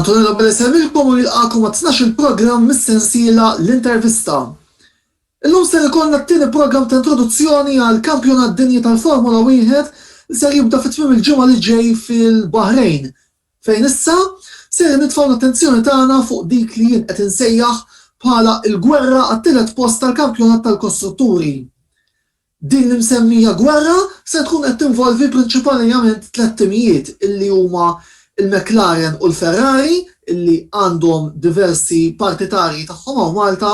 Antonella Bella Semilkom u jilqakom għat-12 il-programm mis-sensiela l-intervista. Illum ser ikollna t-tieni programm ta' introduzzjoni għal kampjonat dinji tal-Formula 1 li ser jibda fi tmiem il-ġimgħa li ġej fil-Bahrejn, fejn issa ser nitfgħu l-attenzjoni tagħna fuq dik li jien qed insejjaħ bħala l-gwerra għat-tielet post tal-kampjonat tal-kostrutturi. Din l-imsemmija gwerra se tkun qed tinvolvi prinċipalijament tliet timijiet illi huma l-McLaren u l-Ferrari illi għandhom diversi partitarji tagħhom hawn Malta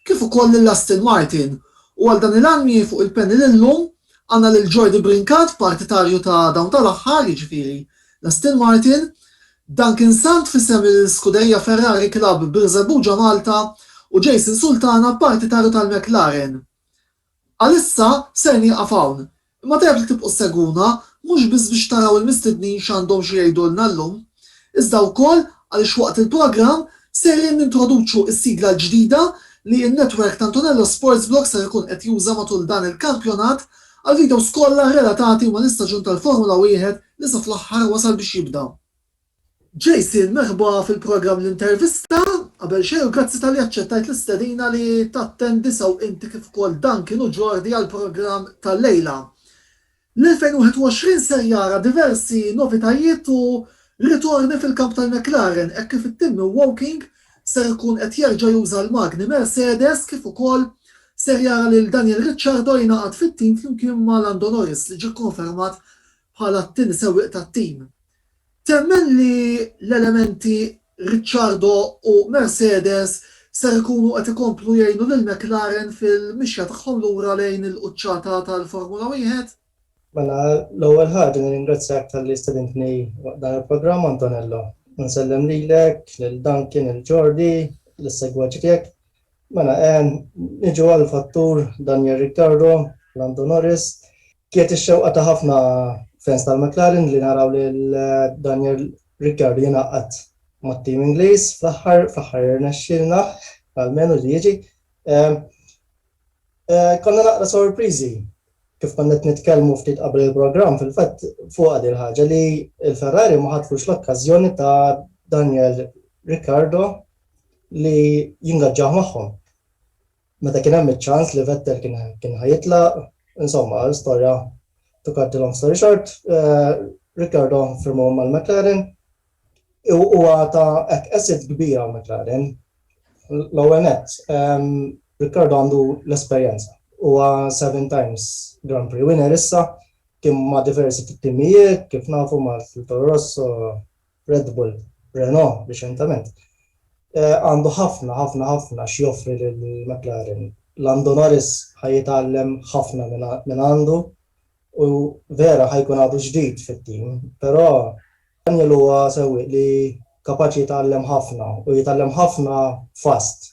kif ukoll lil Aston Martin u għal dan il-għan miegħi fuq il-panel illum għandna lil Jordi Brincat partitarju ta' dawn tal-aħħar jiġifieri l-Aston Martin, Duncan Sant f'isem il-Scuderia Ferrari Club Birżebbuġa Malta u Jason Sultana partitarju tal-McLaren. Għalissa ser nieqaf hawn, imma tajjeb li tibqgħu ssegwuna mhux biss biex taraw il-mistednin x'għandhom xi jgħidulna llum, iżda wkoll għaliex waqt il-programm sejrin nintroduċu s-sigla l-ġdida li n-netwerk ta' Antonello Sportsblog ser ikun qed juża matul dan il-kampjonat għall-videos kollha relatati mal-istaġun tal-Formula Wieħed li sa fl-aħħar wasal biex jibda. Jason, merħba fil-programm L-Intervista. Qabel xejn u grazzi talli aċċettajt l-istedina li tattendi sew inti kif ukoll Duncan u Jordi għall-programm tal-lejla. L-2021 ser jara diversi novitajiet u ritorni fil-kamp tal-McLaren hekk kif it-tim minn Woking ser ikun qed jerġa' juża l-magni Mercedes kif ukoll ser jara lil Daniel Ricciardo jingħaqad fit-tim flimkien ma' Lando Norris li ġie kkonfermat bħala t-tieni sewwieq tat-tim. Temmen li l-elementi Ricciardo u Mercedes ser ikunu qed ikomplu jgħinu lil McLaren fil-mixja tagħhom lura lejn il-quċċata tal-Formula Wieħed? Mela, l-ewwel ħaġa nirringrazzjak talli stedintni waqt dan il-programm, Antonello. U nsellem lilek, lil Duncan, lil Jordi, lis-segwaċi tiegħek. Mela, niġu għall-fattur Daniel Ricciardo, Lando Norris. Kienet ix-xewqa ta' ħafna fans tal-McLaren li naraw lil Daniel Ricciardo jingħaqad mat-tim Ingliż fl-aħħar, fl-aħħar irnexxielna almenu li jiġi. Konna naqra sorpriżi kif konna qed nitkellmu ftit qabel il-programm fil-fatt fuqha din il-ħaġa li l-Ferrari ma ħatfux l-okkażjoni ta' Daniel Ricciardo li jingaġġah magħhom. Meta kien hemm iċ-ċans li Vettel kien kien ħa jitlaq, insomma, l-istorja to cut the long story short, Ricciardo firmaw mal-McLaren u huwa ta' hekk asset kbir għal McLaren. L-ewwel nett, Ricciardo għandu l-esperjenza. Huwa seven times Grand Prix winner issa, kien ma' diversi timijiet, kif nafu ma' Toro Rosso, Red Bull, Renault riċentament, għandu ħafna, ħafna, ħafna x'joffri lil McLaren. Lando Norris ħa jitgħallem ħafna minn għandu u vera ħa jkun għadu ġdid fit-tim, però Daniel huwa sewwieq li kapaċi jitgħallem ħafna u jitgħallem ħafna fast.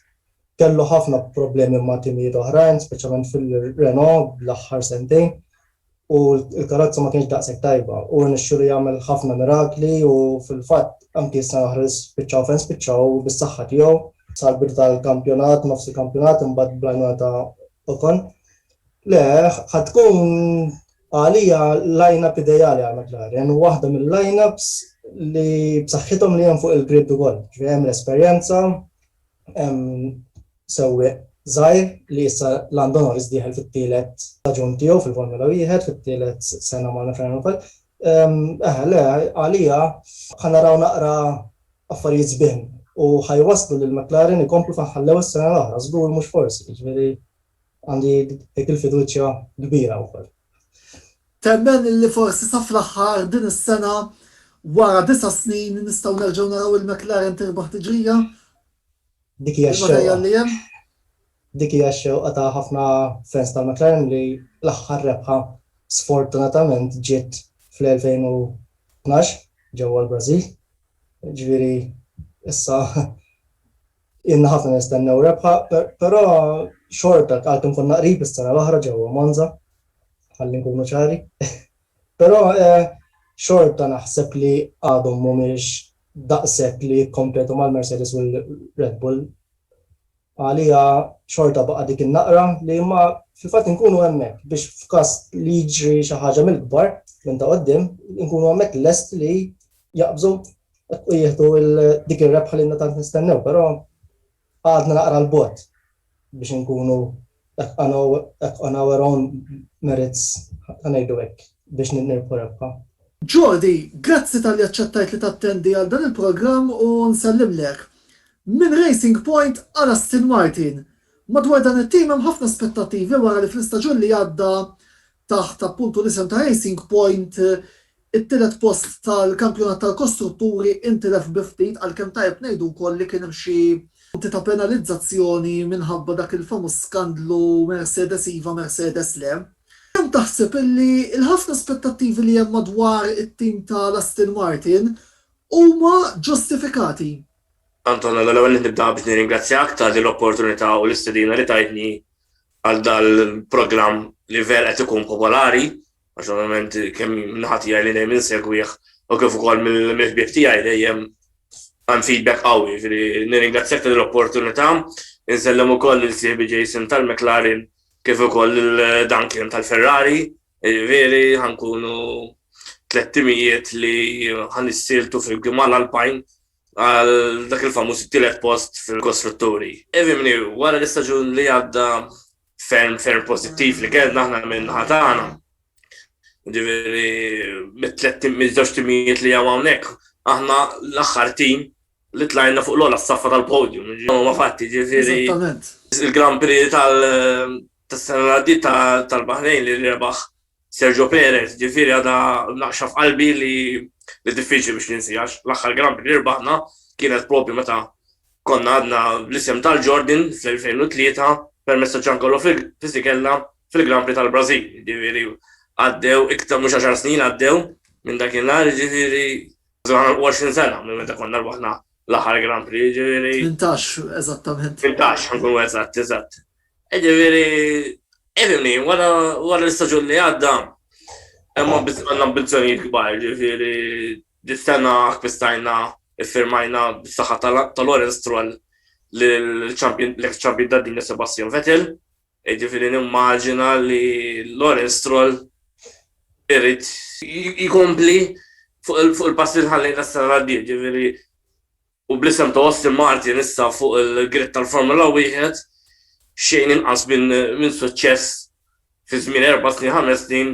Kellu ħafna problemi ma' timijiet oħrajn, speċjalment fil-Renault l-aħħar sentejn, u l-karozza ma kienx daqshekk tajba u rnexxielu jagħmel ħafna mirakli u fil-fatt anki s-sena l-oħra li spiċċaw fejn spiċċaw bis-saħħa tiegħu sal-bidu tal-kampjonat, nofs il-kampjonat imbagħad bl-għajnuna ta' Ocon. Le, ħad tkun għalija line-up ideali għal McLaren u waħda mill-line-ups li b'saħħithom li hemm fuq il-grid ukoll. Ġifieri hemm l-esperjenza, Hemm sewwieq żgħir li issa Lando Norris dieħel fit-tielet staġun tiegħu fil-Formula Wieħed, fit-tielet sena ma' McLaren ukoll. Eħe, le, għalija ħa naraw naqra affarijiet sbieħ u ħa jwasslu lil McLaren ikomplu fejn ħallew is-sena l-oħra, żgur mhux forsi, jiġifieri Għandi dik il-fiduċja kbira wkoll. Temmen li forsi sa fl-aħħar din is-sena, wara disa' snin, nistgħu nerġgħu naraw il-McLaren tirbaħ tiġrija? Dik hija x-xewqa. Il-materjal li hemm? Dik hija x-xewqa ta' ħafna fans tal-McLaren li l-aħħar rebħa sfortunatament ġiet fl-2012 ġewwa l-Brażil. Jiġifieri issa Ilna ħafna nistennew rebħa, però xorta għalkemm konna qrib is-sena l-oħra ġewwa Monza, ħalli nkunu ċari. Però eh, xorta naħseb li għadhom mhumiex daqshekk li jikkompetu mal-Mercedes u l-Red Bull. Għalija xorta baqa' dik in-naqra li ma fil-fatt inkunu hemmhekk biex f'każ li jiġri xi ħaġa mill-kbar minn ta' qoddim, inkunu hemmhekk lest li jaqbżu u jieħdu dik ir-rebħa li ilna tant nistennew, però għadna naqra 'l bogħod biex inkunu on our own merits, ħa ngħidu hekk, biex nirbħu rebħa. Jodi, grazzi talli aċċettajt li tattendi għal dan il-programm u nsellimlek. Minn Racing Point għal Aston Martin, madwar dan it-tim hemm ħafna aspettattivi wara li fl-istaġun li għadda taħt appuntu l-isem ta' Racing Point, it-tielet post tal-kampjonat tal-kostrutturi intilef bi ftit għalkemm tajjeb ngħidu wkoll li kien hemm xi punti ta' penalizzazzjoni minħabba dak il-famuż skandlu Mercedes iva, Mercedes le. Kemm taħseb illi l-ħafna aspettattivi li hemm madwar it-tim tal-Aston Martin huma ġustifikati? Antonello, l-ewwel nett nibda biex nirringrazzjak ta' din l-opportunità u l-istedina li tajtni għal dal-programm li ver qed ikun popolari, għax ovvjament kemm minħat jgħaj li dejjem insegwih u kif ukoll mill-ħbieb tiegħi dejjem għan feedback qawwi, ġifieri nirringrazzjak tal opportunità insellem ukoll lil sieħbi Jason tal-McLaren kif ukoll lil Duncan tal-Ferrari, veri ħankunu tlettimijiet li ħanissiltu fil-Gimal Alpine għal dak il-famuż tielet post fil-kostrutturi. Evimni, wara l-istaġun li għadda ferm ferm pozittiv li kellna aħna minn ħatana. Ġifieri mit-tlet miż-żewġ timijiet li hawn hawnhekk, aħna l-aħħar tim li tlajna fuq l-ola s-saffa tal-podium, ma fatti ġifiri. Il-Grand Prix tal-sena tal-Bahrejn li rebaħ Sergio Perez, ġifieri għadha naqxa f'qalbi li li diffiċli biex ninsi għax l-aħħar Grand Prix li rbaħna kienet propju meta konna għadna bl-isem tal-Jordan fl-2003 permezz ta' Giancarlo Fisichella fil-Grand Prix tal-Brażil. Ġifieri għaddew iktar mhux għaxar snin għaddew minn dakinhar, ġifieri żgħar 20 sena minn meta konna rbaħna l-aħħar Grand Prix, ġifieri. Tmintax eżattament. Tmintax, ħankunu eżatt, eżatt. Ġifieri, ifhimni, wara l-istaġun li għadda, imma għandna ambizzjonijiet kbar, ġifieri, dis-sena akkwistajna, iffirmajna bis-saħħa ta' Lawrence Stroll l-eks champion tad-dinja Sebastian Vettel, ġifieri nimmaġina li Lawrence Stroll irid jkompli fuq il-passi li ħallejna s-sena li għaddiet, ġifieri, u bl-isem ta' Aston Martin issa fuq il-grid tal-Formula Wieħed, xejn inqas minn suċċess fi żmien erba' snin, ħames snin,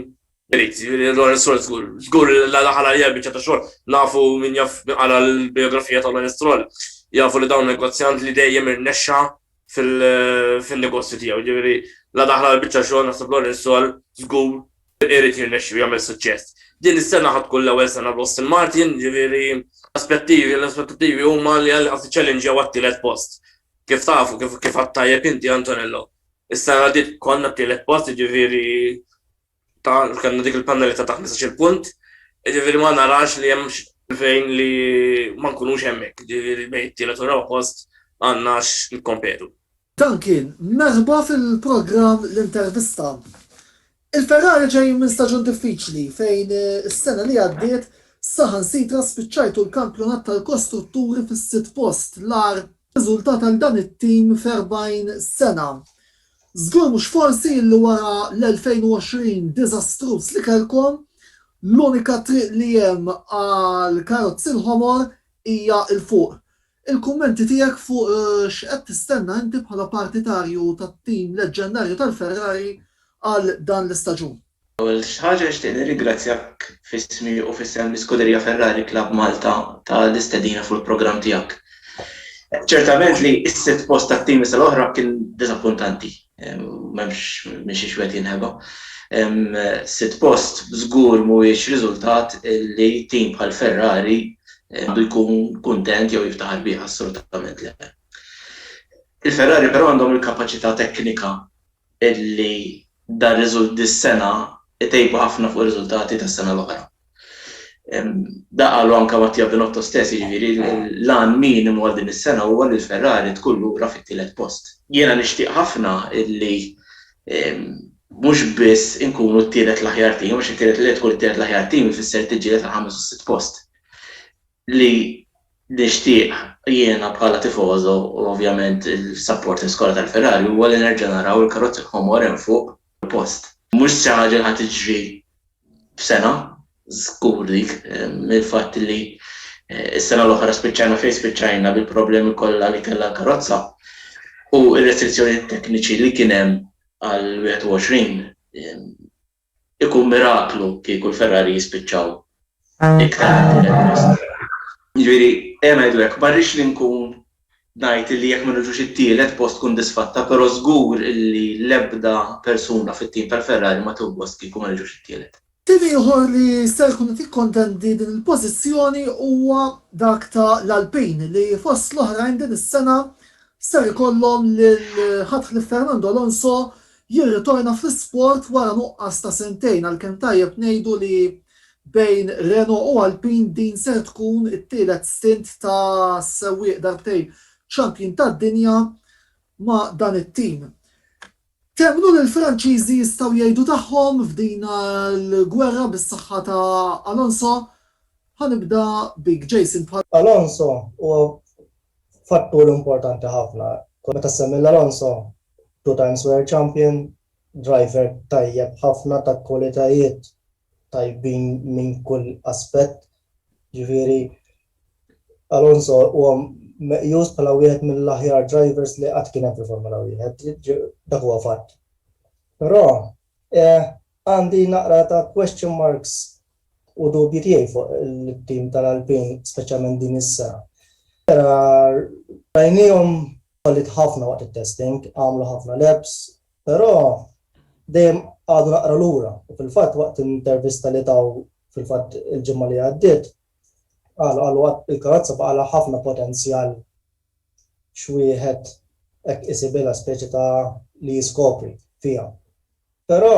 irid, jiġifieri Lawrence Stroll żgur, żgur li daħal għalija biċċa ta' xogħol. Nafu min jaf min qara l-bijografija ta' Lawrence Stroll, jafu li dawn negozjant li dejjem irnexxa fin-negozju tiegħu, jiġifieri la daħal għal biċċa xogħol naħseb Lawrence Stroll żgur Irid jirnexxi u jagħmel suċċess. Din is-sena ħa tkun l-ewwel sena l-Aston Martin, jiġifieri l-aspettivi l-aspettattivi huma li qed iċċellinġjaw għat-tielet post. Kif tafu, kif kif għadt tajjeb inti Antonello, is-sena li għaddiet konna t-tielet post, jiġifieri ta' kellna dik il-pennalità ta' ħmisax-il punt, jiġifieri ma narax li hemm fejn li ma nkunux hemmhekk, jiġifieri bejn it-tielet u r-raba' post għandna x'nikkompetu. Dan kien merħba fil-programm L-Intervista. Il-Ferrari ġejjin minn staġun diffiċli fejn is-sena li għaddiet saħansitra spiċċajtu l-kampjonat tal-kostrutturi fis-sitt post, l-agħar riżultat għal dan it-tim f'erbgħin sena. Żgur mhux forsi li wara l-2020 diżastruż li kellkom, l-unika triq li hemm għall-karozzi l-ħomor hija 'l fuq. Il-kummenti tiegħek fuq x'qed tistenna inti bħala partitarju tat-tim leġġendarju tal-Ferrari għal dan l-istaġun. L-ewwel ħaġa nixtieq nirringrazzjak f'ismi u f'isem l-Iskuderija Ferrari Club Malta tal-istedina fuq il-programm tiegħek. Ċertament li s-sitt post tat-teams tal-oħra kien diżappuntanti. M'hemmx minn xiex wieħed jinħeba. Sitt post żgur mhuwiex riżultat li tim bħal Ferrari għandu jkun kuntent jew jiftaħar bih, assolutament le. Il-Ferrari però għandhom il-kapaċità teknika li dan riżultat dis-sena jtejbu ħafna fuq ir-riżultati tas-sena l-oħra. Da qalu anke Mattia Binotto stess, jiġifieri l-għan minimu għal din is-sena huwa li l-Ferrari tkun lura fit-tielet post. Jiena nixtieq ħafna li mhux biss inkunu t-tielet l-aħjar tim, għax it-tielet li tkun it-tielet l-aħjar tim ifisser tiġġieled għall-ħames u s-sitt post. li nixtieq jiena bħala tifoso u ovvjament il-supporters kollha tal-Ferrari huwa li nerġa' naraw il-karozzi ħomor hemm fuq il-post. Mhux xi ħaġa li ħa tiġri f'sena, żgur dik, mill-fatt li s-sena l-oħra spiċċajna fejn spiċċajna bil-problemi kollha li kellha l-karozza u r-restrizzjonijiet tekniċi li kien hemm għall-21. Ikun miraklu kieku l-Ferrari jispiċċaw iktar minn tielet post. Jiġifieri, ejja ngħidu hekk, ma rridx li nkun ngħid illi jekk ma niġux it-tielet post tkun disfatta, però żgur illi l-ebda persuna fit-tim tal-Ferrari ma tieħu gost kieku ma niġux it-tielet. Tim ieħor li ser ikun qed jikkontendi din il-pożizzjoni huwa dak ta' l-Alpine li fost l-oħrajn din is-sena ser ikollhom lil ħadd ħlief Fernando Alonso jirritorna fl-isport wara nuqqas ta' sentejn għalkemm tajjeb ngħidu li bejn Renault u Alpine din ser tkun it-tielet stint ta' sewwieq darbtejn champion tad-dinja ma' dan it-tim. Temmnu li l-Franċiżi jistgħu jgħidu tagħhom f'din il-gwerra bis-saħħa ta' Alonso? Ħa nibda bik Jason. Alonso huwa fattur importanti ħafna. Meta ssemmi 'l Alonso two times world champion, driver tajjeb ħafna ta' kwalitajiet tajbin minn kull aspett. Ġifieri Alonso huwa meqjus bħala wieħed mill-aħjar drivers li qatt kien hemm fil-Formula Wieħed, dak huwa fatt. Però għandi naqra ta' question marks u dubji tiegħi fuq it-tim tal-Alpine speċjalment din is-sena. Rajniehom Falliet ħafna waqt it-testing, għamlu ħafna laps, però dejjem qagħdu naqra lura u fil-fatt waqt intervista li taw fil-fatt il-ġimgħa li għaddiet qalu qalu għad il-karozza baqgħalha ħafna potenzjal x'wieħed hekk isibilha speċi ta' li jiskopri fiha. Però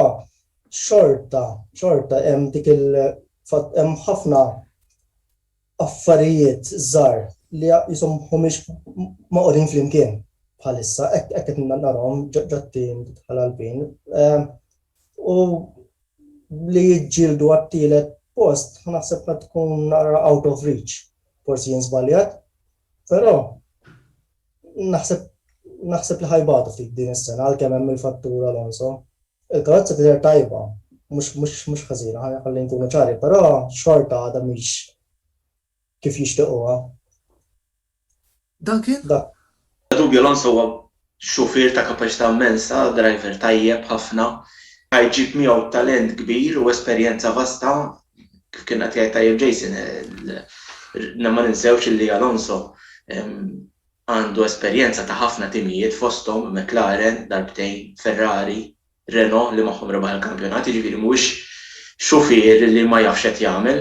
xorta xorta hemm dik il-fatt hemm ħafna affarijiet żgħar li qishom mhumiex magħqudin flimkien bħalissa, hekk qed narahom ġat-tim tal Alpin. U li jiġġieldu għat-tielet post, naħseb ma tkun nara out of reach, forsi jien żbaljat, però naħseb naħseb li ħajbatu ftit din is-sena għalkemm hemm il-fattur Alonso. Il-karozza tidher tajba, mhux mhux mhux ħażina, ħa ħalli nkunu ċari, però xorta għadha mhix kif jixtiequha. Dan kien? Dak. Bla dubju Alonso huwa xufier ta' kapaċità immensa, driver tajjeb ħafna, ħa jġib miegħu talent kbir u esperjenza vasta, kif kien qed jgħid tajjeb Jason, il, na ma ninsewx illi Alonso, Għandu esperjenza ta' ħafna timijiet fosthom McLaren darbtejn, Ferrari, Renault li magħhom rebaħ il-kampjonat, jiġifieri mhuwiex xufier li ma jafx x'qed jagħmel.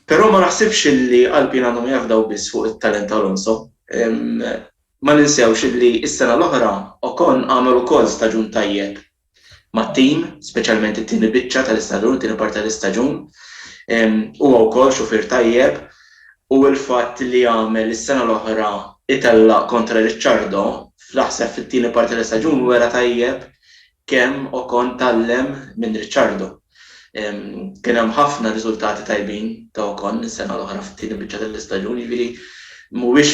Però ma naħsibx li Alpine għandhom jafdaw biss fuq it-talent ta' Alonso. Ma ninsewx li s-sena l-oħra Ocon għamel ukoll staġun tajjeb mat-tim, speċjalment it-tieni biċċa tal-istaġun, it-tieni parti tal-istaġun. Huwa wkoll xufier tajjeb u l-fatt li għamel is-sena l-oħra itella' kontra Ricciardo naħseb fit-tieni parti tal-istaġun wera tajjeb kemm Ocon tgħallem minn Ricciardo. Kien hemm ħafna riżultati tajbin ta' Ocon is-sena l-oħra fit-tieni biċċa tal-istaġun, jiġifieri mhuwiex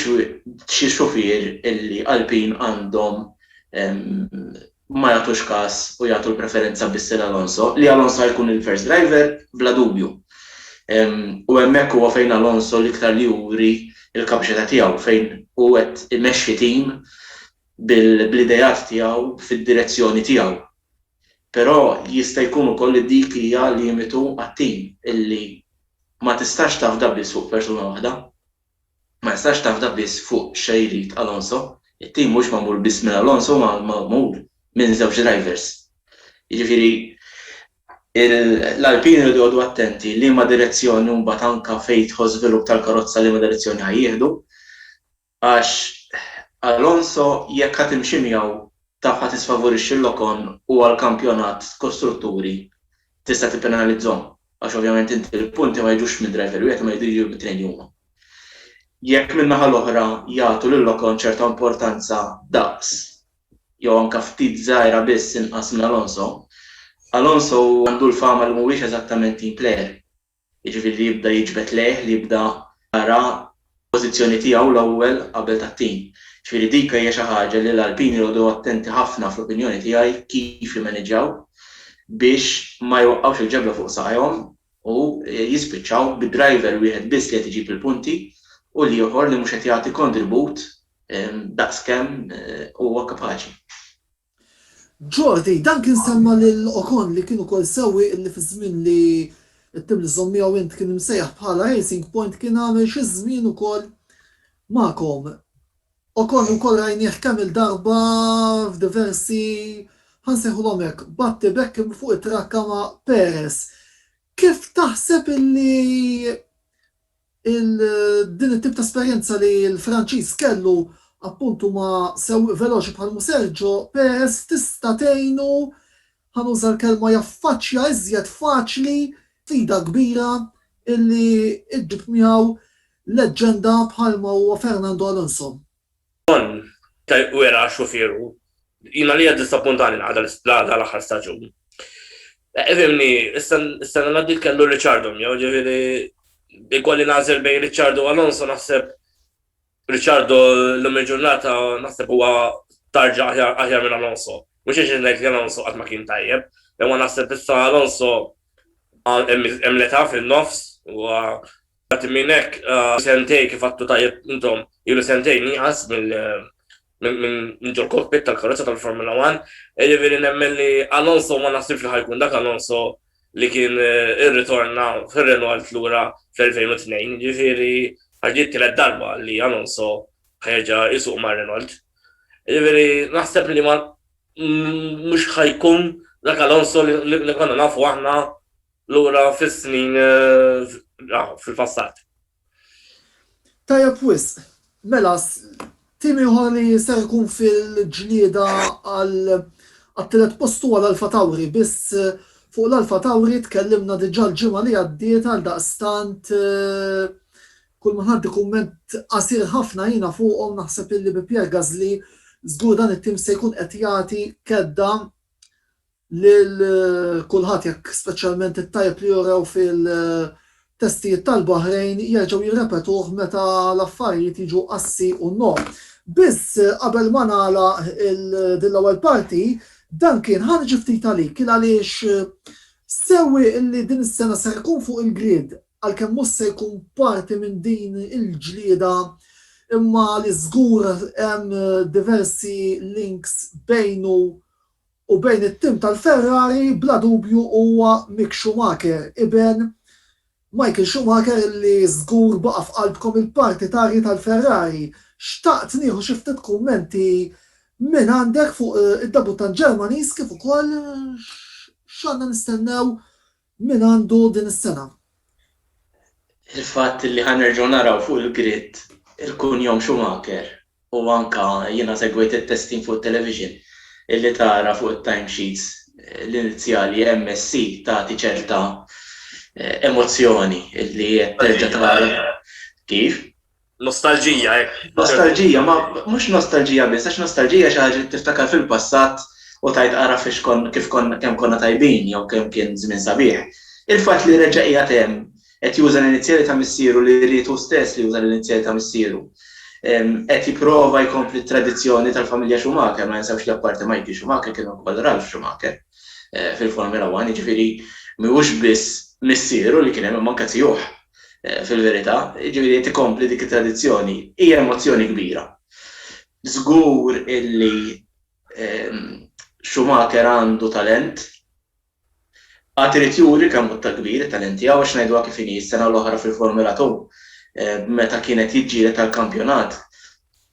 xi xufier illi Alpine għandhom ma jagħtux kas u jagħtu l-preferenza biss lil Alonso, li Alonso ħa jkun il-first driver bla dubju. U hemmhekk huwa fejn Alonso l-iktar li juri l-kapaċità tiegħu, fejn hu qed imexxi tim bl-ideat tiegħu fid-direzzjoni tiegħu. Però jista' jkun ukoll li dik hija limitu għat-tim, illi ma tistax tafda biss fuq persuna waħda. Ma jistax tafda biss fuq x'jrid Alonso. It-tim mhuwiex magħmul biss minn Alonso huwa magħmul minn żewġ drivers. Jiġifieri l-Alpine iridu jqogħdu attenti liema direzzjoni u mbagħad anke fejn jidħol żvilupp tal-karozza liema direzzjoni ħa jieħdu għax Alonso jekk ħa timxi miegħu taf ħa tisfavorixxi l-Ocon u għall-kampjonat kostrutturi tista' tippenalizzhom għax ovvjament inti l-punti ma jiġux minn driver wieħed imma jridu jiġu mit-tnejn li huma. Jekk min-naħa l-oħra jagħtu lil Ocon ċerta importanza daqs jew anke ftit żgħira biss inqas minn Alonso, Alonso għandu l-fama li mhuwiex eżattament team player. jiġifieri li jibda jiġbed lejh, li jibda jara l-pożizzjoni tiegħu l-ewwel qabel tat-tim. Jiġifieri dik hija xi ħaġa li l-Alpini jqogħdu attenti ħafna fl-opinjoni tiegħi kif jimmaniġġjaw biex ma jwaqqgħux il-ġebla fuq saqajhom u jispiċċaw bi driver wieħed biss li qed iġib il-punti u l-ieħor li mhux qed jagħti kontribut daqskemm huwa kapaċi. Jordi, Dan kien semma lil Ocon li kien ukoll sewwieq illi fi żmien li t-tim li żżomm miegħu int kien imsejjaħ bħala Racing Point kien għamel xi żmien ukoll magħkom. Ocon ukoll rajnieh kemm il-darba f'diversi, ħa nsejħulhom hekk, battibekk fuq it-trakka ma' Perez. Kif taħseb illi Din it-tip ta' esperjenza li l-Franċiż kellu appuntu ma' sewwieq veloċi bħalmu Sergio Perez tista' tgħinu, ħa nuża l-kelma, jaffaċċja iżjed faċli sfida kbira li ġġib miegħu leġġenda bħalma huwa Fernando Alonso. Bżonn ta' wera xufieru. Jien għalija ddisappuntani l-għada l-aħħar staġun. Fimni, is-sena li għaddiet kellu Ricciardo miegħu, ġifieri ikolli nagħżel bejn Ricciardo u Alonso naħseb Ricciardo llum il-ġurnata naħseb huwa tarġa aħjar minn Alonso. Mhux għax ngħid li Alonso qatt ma kien tajjeb, imma naħseb issa Alonso hemm l-età fin-nofs, huwa Parti minn hekk sentej kif għattu tajjeb intom ilu sentejn nieqas minn ġol kokpit tal-karozza tal-Formula 1, jiġifieri nemmen li Alonso ma naħsibx li ħa jkun dak Alonso li kien irritorna fir-Renault lura fl-2002, jiġifieri ħa ġġi t-tielet darba li Alonso ħa jerġa' jsuq ma' Renault. Jiġifieri naħseb li ma mhux ħa jkun dak Alonso li konna nafu aħna lura fis-snin fil-passat. Tajjeb wisq. Mela, tim ieħor li ser ikun fil-ġlieda għat-tielet post huwa l-Alpha Tauri, biss fuq l-Alpha Tauri tkellimna diġà l-ġimgħa li għaddiet għaldaqstant kull ma ngħaddi kumment qasir ħafna jiena fuqhom naħseb illi bi Pierre Gasly żgur dan it-tim se jkun qed jagħti kedda lil kulħadd jekk speċjalment it-tajjeb li urew fil-testijiet tal-Baħrejn jerġgħu jirrepetuh meta l-affarijiet jiġu assi u no. Biss qabel ma nagħlaq din l-ewwel parti, Duncan, ħa niġi ftit għalik, kien għaliex sewwieq li din is-sena ser ikun fuq il-grid għalkemm mhux se jkun parti minn din il-ġlieda imma li żgur hemm diversi links bejnu U bejn it-tim tal-Ferrari bla dubju huwa Mick Schumacher, iben Michael Schumacher li żgur baqa' f'qalbkom il-partitarji tal-Ferrari. Xtaqt nieħu xi ftit kummenti mingħandek fuq id-debuttant Ġermaniż kif ukoll x'għandna nistennew Min għandu din is-sena? Il-fatt li ħa nerġgħu naraw fuq il-grid il-kunjom Schumacher u anke jiena segwejt it-testin fuq it-television illi tara fuq it-time sheets l-inizjali MSC tagħti ċerta emozzjoni illi qed terġa' tara kif Nostalġija, hekk. Nostalġija, ma mhux nostalġija biss, għax nostalġija xi ħaġa li tiftakar fil-passat u tgħid ara fiex kon kif konna kemm konna tajbin jew kemm kien żmien sabiħ. Il-fatt li reġa' qiegħed hemm qed juża l-inizjali ta' missieru li ried hu stess li juża l-inizjali ta' missieru. Qed jipprova jkompli t-tradizzjoni tal-familja Schumacher, ma ninsewx li apparti Michael Schumacher kien hemm ukoll Ralf Schumacher fil-Formula One, jiġifieri mhuwiex biss missieru li kien hemm imma anke tiegħuh. fil-verità, jiġifieri qed ikompli dik it-tradizzjoni. Hija emozzjoni kbira. Żgur illi Schumacher għandu talent, għad irid juri kemm hu ta' kbir it-talent tiegħu għax ngħiduha kif inhi s-sena l-oħra fil-Formula 2 meta kien qed jiġġieled għall-kampjonat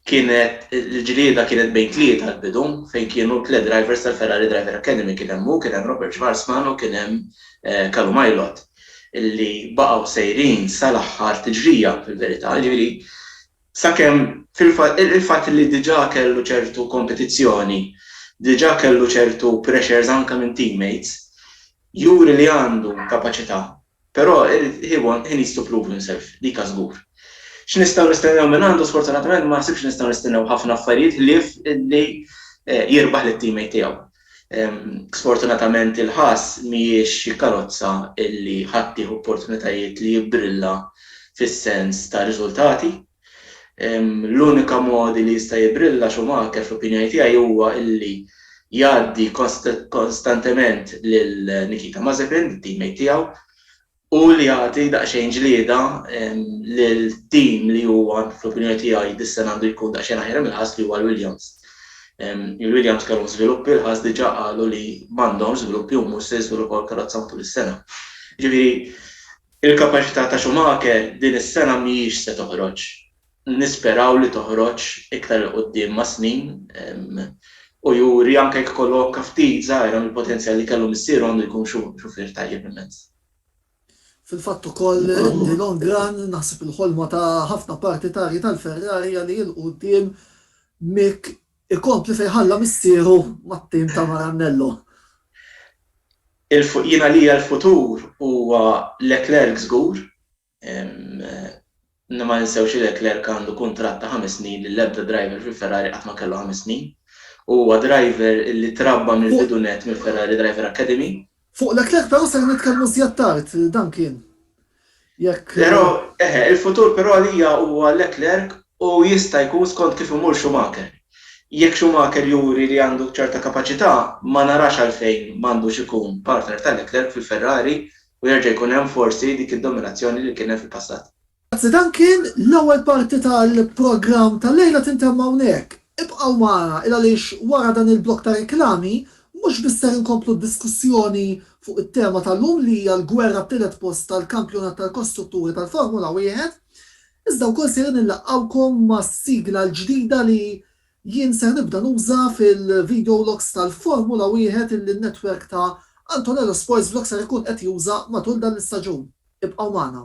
Kienet, il-ġlieda kienet bejn tlieta għall-bidu, fejn kienu tliet drivers tal-Ferrari Driver Academy, kien hemm hu, kien hemm Robert Schwarzman u kien hemm Callum Ilott, li baqgħu sejrin sal-aħħar tiġrija fil-verità, jiġifieri sakemm fil-fatt, il-fatt li diġà kellu ċertu kompetizzjoni, diġà kellu ċertu pressures anke minn teammates, juri li għandu kapaċità Però he won, he needs to prove himself, dika żgur. X'nistgħu nistennew minn għandu sfortunatament ma naħsibx li nistgħu nistennew ħafna affarijiet ħlief li jirbaħ lit-teammate tiegħu. Sfortunatament il-Haas mhijiex xi karozza li ħadd tih opportunitajiet li jibbrilla fis-sens ta' riżultati. L-unika mod li jista' jibrilla Schumacher fl-opinjoni tiegħi huwa li jgħaddi konstantement lil Nikita Mazepin, it-teammate tiegħu, u li jagħti daqsxejn ġlieda lil team li huwa fl-opinjoni tiegħi dis-sena għandu jkun daqsxejn aħjar imlaħħas li huwa l-Williams. Il-Williams kellhom żviluppi, il-Haas diġà qalu li m'għandhomx żviluppi u mhux se jiżviluppaw il-karozza matul is-sena. Jiġifieri, Il-kapaċità ta' Schumacher din is-sena mhijiex se toħroġ. Nisperaw li toħroġ iktar 'il quddiem mas-snin u juri anke jekk ikollu għokka ftit żgħira mill-potenzjal li kellu missieru għandu jkun xufier tajjeb immens. Fil-fatt ukoll in the long run naħseb il-ħolma ta' ħafna partitarji tal-Ferrari hija li 'il quddiem Mick Ikompli fejn ħalla missieru mat-tim ta' Maranello. Jien għalija l-futur huwa Leclerc żgur. Ma ninsewx li Leclerc għandu kuntratt ta' ħames snin li l-ebda driver fi Ferrari qatt ma kellu ħames snin. Huwa driver li trabba mill-bidu nett mill-Ferrari Driver Academy. Fuq Leclerc però ser nitkellmu żjed tard, dan kien jekk. Però, eħe, il-futur però għalija huwa Leclerc u jista' jkun skont kif imur Schumacher. Jekk Schumacher juri li għandu ċerta kapaċità, ma narax għalfejn ma għandux ikun partner ta' Leclerc fil-Ferrari u jerġa' jkun hemm forsi dik id-dominazzjoni li kien hemm fil-passat. Grazzi dan kien l-ewwel parti tal-programm tal-lejla tintemm hawnhekk. Ibqgħu magħna il-għaliex wara dan il-blokk ta' reklami mhux biss ser inkomplu d-diskussjoni fuq it-tema tal-lum li hija l-gwerra t-tielet post tal-kampjonat tal-kostrutturi tal-Formula Wieħed iżda wkoll ser inillaqgħukom mas-sigla l-ġdida li jien ser nibda nuża fil-video logs tal-Formula Wieħed illi n-netwerk ta' Antonello Sports Vlogs ser ikun qed juża matul dan l-istaġun. Ibqgħu magħna.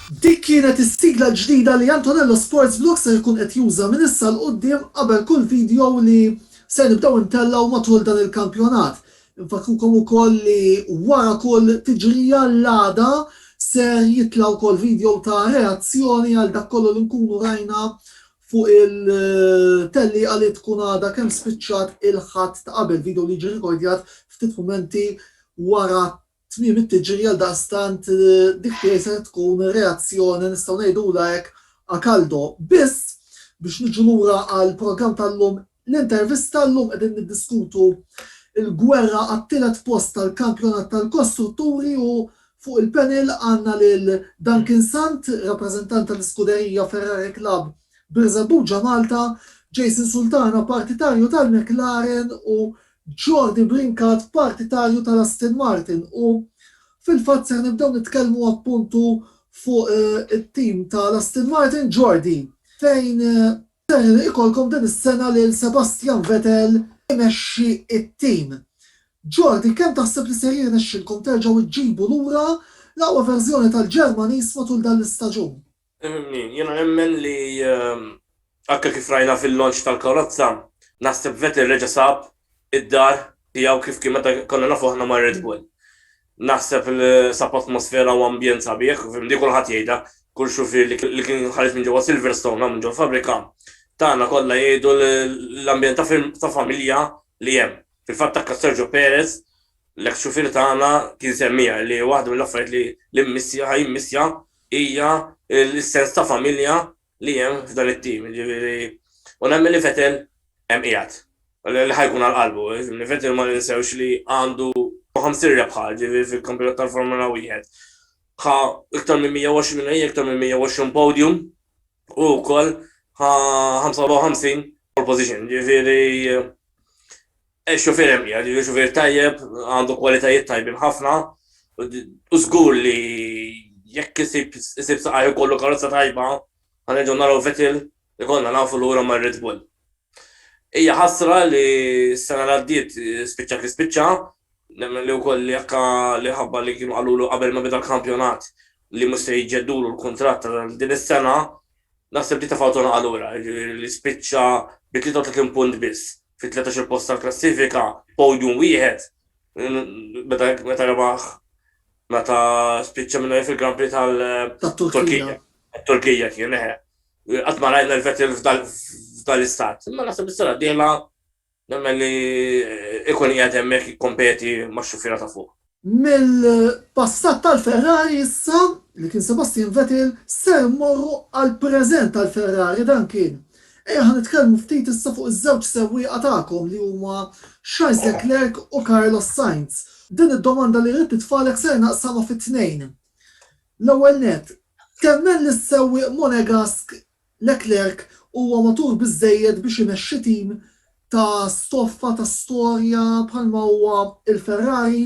Dik kienet is-sigla l-ġdida li Antonello Sports Vlog ser ikun qed juża minn issa 'l quddiem qabel kull video li ser nibdew intellgħu matul dan il-kampjonat. Infakkrukom ukoll li wara kull tiġrija l-għada ser jitla' wkoll video ta' reazzjoni għal dak kollu li nkunu rajna fuq il-tellieqa li tkun għadha kemm spiċċat il-Ħadd ta' qabel, video li jiġi rikordjat ftit mumenti wara Tmiem it-tiġri għaldaqstant dik tiegħi setgħet tkun reazzjoni nistgħu ngħidulha hekk a caldo. Biss, biex niġu lura għall-programm tal-lum, l-intervista llum qegħdin niddiskutu l-gwerra għat-tielet post tal-kampjonat tal-kostrutturi u fuq il-panel għandna lil Duncan Sant, rappreżentant tal-iskuderija Ferrari Club Birżebbuġa Malta, Jason Sultana partitarju tal-McLaren u Jordi Brincat partitarju tal-Aston Martin u fil-fatt ser nibdew nitkellmu appuntu fuq it-tim tal-Aston Martin Jordi fejn ser ikollkom din is-sena lil Sebastian Vettel imexxi t-tim. Jordi kemm taħseb li ser jirnexxilkom terġgħu ġġibu lura l-aqwa verżjoni tal-Ġermaniż matul dan l-istaġun? Jiena nemmen li anke kif rajna fil-launch tal-karozza, naħseb Vettel reġa' sab id-dar tiegħu kif kien meta konna nafu aħna ma' Red Bull. Naħseb sab atmosfera u ambjent sabiħ, di kulħadd jgħidha, kull xufier li kien ħareġ minn ġewwa Silverstone hawn minn ġol-fabbrika tagħna kollha jgħidu l-ambjent ta' familja li hemm. Fil-fatt anke Sergio Perez, l-eks xufier tagħna kien semmiha li waħda mill-affarijiet li mmissi ħa jimmissja Hija l-sens ta' familja li hemm f'dan it-tim, jiġifieri u nemmen li Vettel hemm qiegħed, li ħa jkun għal qalbu. Vettel ma ninsewx li għandu 50 rebħa, jiġifieri fil-kampjonat tal-Formula Wieħed. Ħa iktar minn 120 winner, iktar minn 120 podium u wkoll ħa 55 pole position, jiġifieri Ix-xufier hemm qiegħed jiġu xufier tajjeb, għandu kwalitajiet tajbin ħafna u żgur li jekk isib isib saqajh ikollu karozza tajba, ħa nerġgħu naraw Vettel ikollna nafu lura mar-Red Bull. Hija ħasra li s-sena li għaddiet spiċċa kif spiċċa, nemmen li wkoll li akka li ħabba li kienu qalulu qabel ma beda l-kampjonat li mhux se jġeddulu l-kuntratt għal din is-sena, Naħseb li tefgħu tonqha lura, jiġifieri li spiċċa bi 33 punt biss fit-13-il post tal-klassifika, podium wieħed, meta rebaħ meta spiċċa minn fil-Grand Prix tal-Turkija. Turkija kien, eħe. Qatt ma rajna l-Vettel f'dan l-istat. Imma naħseb is-sena d-dieħla Nemmen li ikun qiegħed hemmhekk jikkompeti max-xufiera ta' fuq. Mill-passat tal-Ferrari issa, li kien Sebastian Vettel, ser immorru għall-preżent tal-Ferrari, dan kien. Ejja ħa nitkellmu ftit issa fuq iż-żewġ sewwieqa tagħkom li huma Charles Leclerc u Carlos Sainz. Din id-domanda li rrid nitfagħlek ser naqsamha fi tnejn. L-ewwel nett, temmen li s-sewwieq Monegask Leclerc huwa matur biżżejjed biex imexxi tim ta' stoffa ta' storja bħalma huwa l-Ferrari?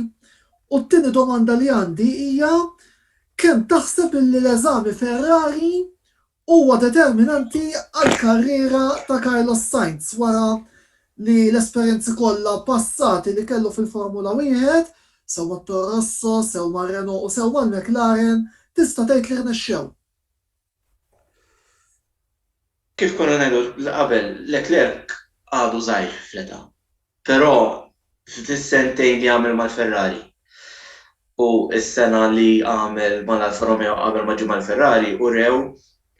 U t-tieni domanda li għandi hija kemm taħseb illi l-eżami Ferrari huwa determinanti għall-karriera ta' Carlos Sainz wara li l-esperjenzi kollha passati li kellu fil-Formula Wieħed, sew mat-Toro Rosso, sew mar-Renault u sew mal-McLaren, tista' tgħid li rnexxew? Kif konna ngħidu qabel, Leclerc għadu żgħir fl-età, però fis-sentejn li għamel mal-Ferrari u s-sena li għamel mal-Alfa Romeo qabel ma ġie mal-Ferrari urew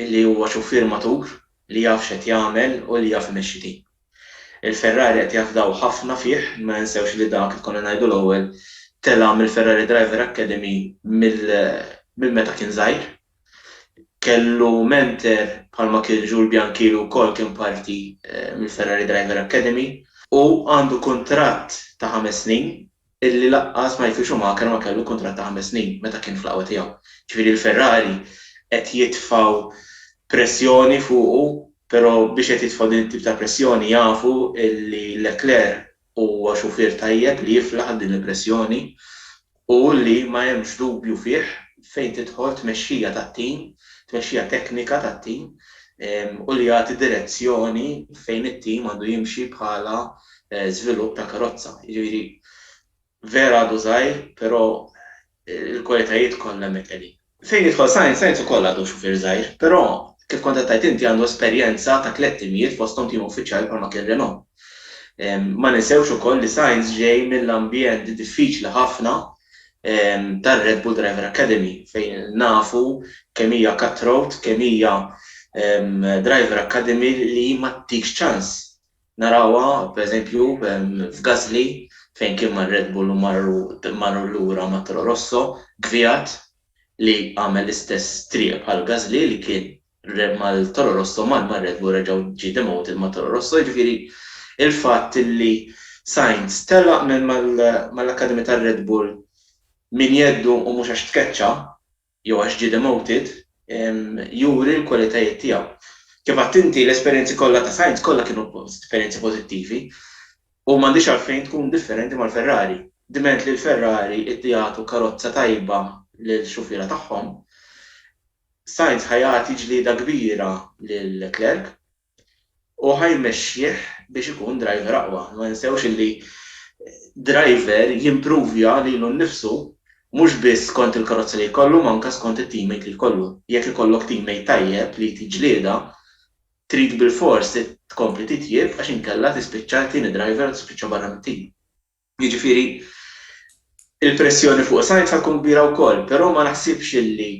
li huwa xufier matur li jaf x'qed jagħmel u li jaf imexxi tim. Il-Ferrari qed jafdaw ħafna fih, ma ninsewx li dak, kif konna ngħidu l-ewwel, tela' mill-Ferrari Driver Academy minn meta kien żgħir. Kellu menter bħalma kien Jules Bianchi li wkoll kien parti mill-Ferrari Driver Academy u għandu kuntratt ta' ħames snin illi laqqas ma jkun Schumacher ma kellu kuntratt ta' ħames snin meta kien fl-aqwa tiegħu. Ġifieri l-Ferrari qed jitfgħu pressjoni fuqu pero biex qed jitfgħu din it-tip ta' pressjoni jafu illi Leclerc Huwa xufier tajjeb li jiflaħ għal din il-pressjoni u li ma hemmx dubju fih fejn tidħol tmexxija tat-tim, tmexxija teknika tat-tim u li jagħti direzzjoni fejn it-tim għandu jimxi bħala żvilupp ta' karozza. Jiġifieri vera għadu żgħir, però l-kwalitajiet kollha hemmhekk qegħdin. Fejn jidħol Sainz? Sainz ukoll għadu xufier żgħir, però, kif kont qed tgħid inti, għandu esperjenza ta' tliet timijiet fosthom tim uffiċjali bħalma kien Renault. Ma ninsewx ukoll li Sainz ġej mill-ambjent diffiċli ħafna tar-Red Bull Driver Academy fejn nafu kemm hija cutthroat, kemm hija driver academy li ma ttikx ċans. Narawha, pereżempju, f'Gasly fejn kien mar-Red Bull u marru lura ma' Toro Rosso, Kvyat li għamel l-istess triq bħal Gasly li kien mal-Toro Rosso mar mar-Red Bull reġa' ġie demoted ma' Toro Rosso, jiġifieri l-fatt li Sainz telaq mal-Academy tar-Red Bull minn jeddu u mhux għax tkeċċa, jew għax ġie demoted, juri l-kwalitajiet tiegħu. Kif għedt inti, l-esperjenzi kollha ta' Sainz kollha kienu esperjenzi pożittivi u m'għandhiex għalfejn tkun differenti mal-Ferrari. Dment li l-Ferrari qed jagħtu karozza tajba lill-xufiera tagħhom, Sainz ħa jagħti ġlieda kbira lil Leclerc. u ħa jmexxih biex ikun driver aqwa. Ma ninsewx illi driver jimpruvja lilu nnifsu mhux biss skont il-karozza li jkollu ma anke skont it-teammate li jkollu. Jekk ikollok teammate tajjeb li jtik ġlieda, trid bilfors tkompli titjieb għax inkella tispiċċa t-tieni driver u tispiċċa barra mit-tim. Jiġifieri il-pressjoni fuq Sainz ħa tkun kbira wkoll, però ma naħsibx illi